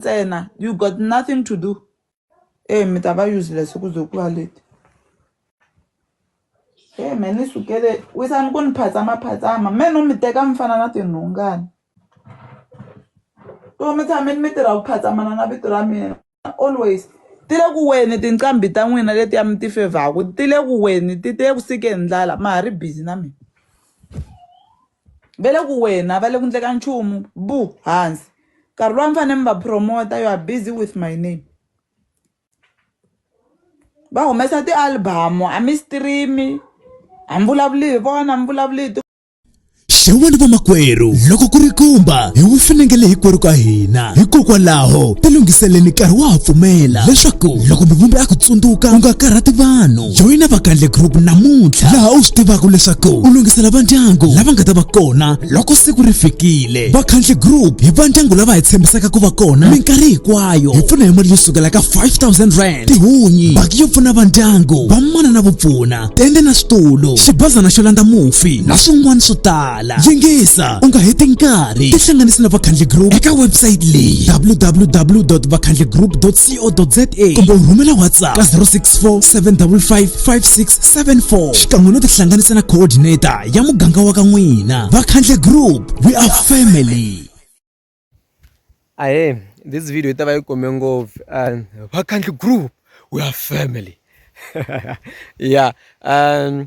ntsena you got nothing to do e mi ta va useless ku ze ku va leti e me ni sukele wisani ku ni phatsama phatsama me no mi teka mi fana na tinhungani to mi tshame ni mi tirha ku phatsamana na vito ra mina always ti le ku weni tinqambi ta n'wina letiya mi ti fevhaku ti le ku weni ti te ku sike hi ndlala ma ha ri busy na mina va le ku wena va le ku ndleka nchumu bu hansi nkarhi lowa mi fanele mi va promota you are busy with my name va humesa ti-album a mi stream-i a mi vulavuli hi vona a mi vulavuli hi xewani vamakwerhu loko ku ri kumba hi wu finengele hinkwerhu ka hina hikokwalaho tilunghiseleni nkarhi wa ha pfumela leswaku loko mivumbi a ku tsundzuka u nga karhati vanhu joyina vakandle group namuntlha laha u swi tivaka leswaku u lunghisela vandyangu lava nga ta va kona loko siku ri fikile vakhandle group hi vandyangu lava hi tshembisaka ku va kona minkarhi hinkwayo hi pfuna hi mali yo sukela ka 5000 rand tihunyi baki yo pfuna vandyangu vamana na vupfuna tende na switulu xibazana xo landza mufi na swin'wana swo tala yingisa u nga heti nkarhi tihlanganisi na vakhandle group eka website leyi www vakhandlegroup co.za kumbe u rhumela whatsapp ka 064 755 5674 xikan'we no tihlanganisa na coordinator ya muganga wa ka n'wina vakhandle group we are family ahe this video yi ta va yi kome ngopfu um vakhandle group we are family ya um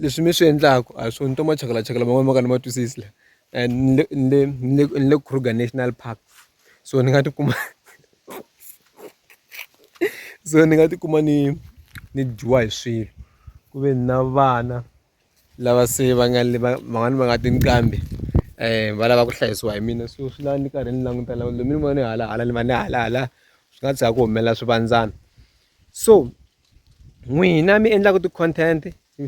Leswi mi swi endlaku a hi swona ni twa machakalacha lama ma ka ni ma twisisi la and ni le ni le ni le ni le Kruger National Park so ni nga tikuma so ni nga tikuma ni ni dyiwa hi swilo ku ve na vana lava se va nga le va van'wani va nga tinqambi va lava ku hlayisiwa hi mina so swi lava ni karhi ni languta la lomu ni vona ni hala hala ni va ni hala hala swi nga tshuka ku humelela swivandzana so. n'wina mi endlaka ti-content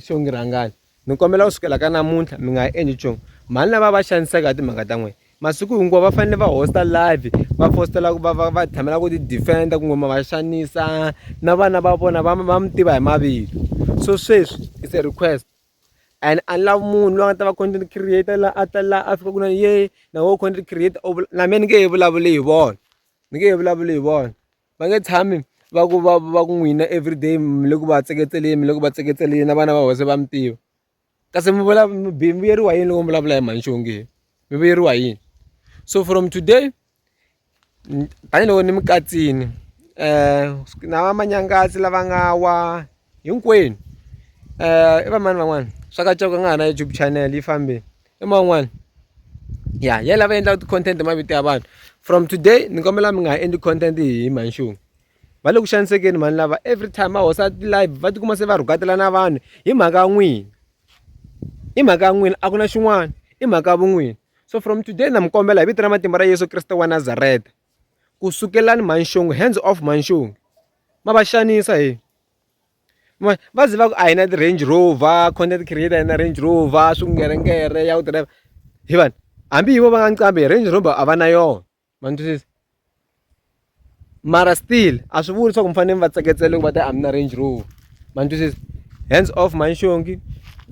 xo ngi rhangani ni kombela ku sukela ka namuntlha mi nga ha endli nchumu mhani lava va xanisaka hi timhaka ta n'wina masiku hinkwawo va fanele va hosta live va fostela ku va va va tshamela ku ti-defend-a ku ngoma va xanisa na vana va vona va va mi tiva hi mavito so sweswi is a request and a ni lavi munhu loyi a nga ta va content creator la a ta la a fika ku na ye na wo content creator na mehe ni nge he vulavuli hi vona ni nge he vulavuli hi vona va nge tshami va ku va va ku n'wina everyday mi le ku va tseketeleni mi le ku va tseketeleni na vana va wena se va mi tiva kasi mi vula mi mi vuyeriwa hi yini loko mi vulavula hi mhani xonge mi vuyeriwa hi yini so from today tanihiloko ni mi katsile na va manyangatsi lava nga wa hinkwenu i va mani van'wana swa katsongo ku nga ha na YouTube channel yi fambile. i man'wani ya ya lava endlaka ti-content hi mavito ya vanhu from today ni kombela mi nga ha endli content hi manxungu va le ku xanisekeni mhani lava every time va hosa ti-live va tikuma se va rhukatela na vanhu hi mhaka ya n'wina i mhaka ya n'wina a ku na xin'wana i mhaka ya vun'wini so from today na mi kombela hi vito ra matimba ra yesu kreste wa nazareta ku sukelani manxungu hands off manxungu ma va xanisa hi va ze va ku a hi na ti-range rover content creator na range rover swingeringere ya ku driver hi vanhu hambi hi vo va nga ncambi hi range rover a va na yona ma ni twisisa mara still a swi vuli leswaku mi fanele mi va tseketsela loko va ta a mi na range rover ma ni twisisa hands off manxongi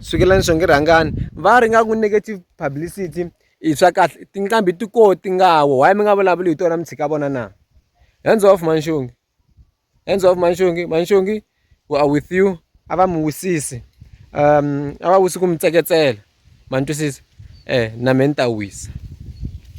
sukela ni xongi rhangani va ri nga ku negative publicity i swa kahle tinqambi ti ko ti nga wo why mi nga vulavuli hi tona mi tshika vona na hands off manxongi Hands off Manshongi, Manshongi we are with you. A va mi wisisi. Um a va wisi ku mi tseketsela. Ma ni twisisa? Eh na me ni ta wisa.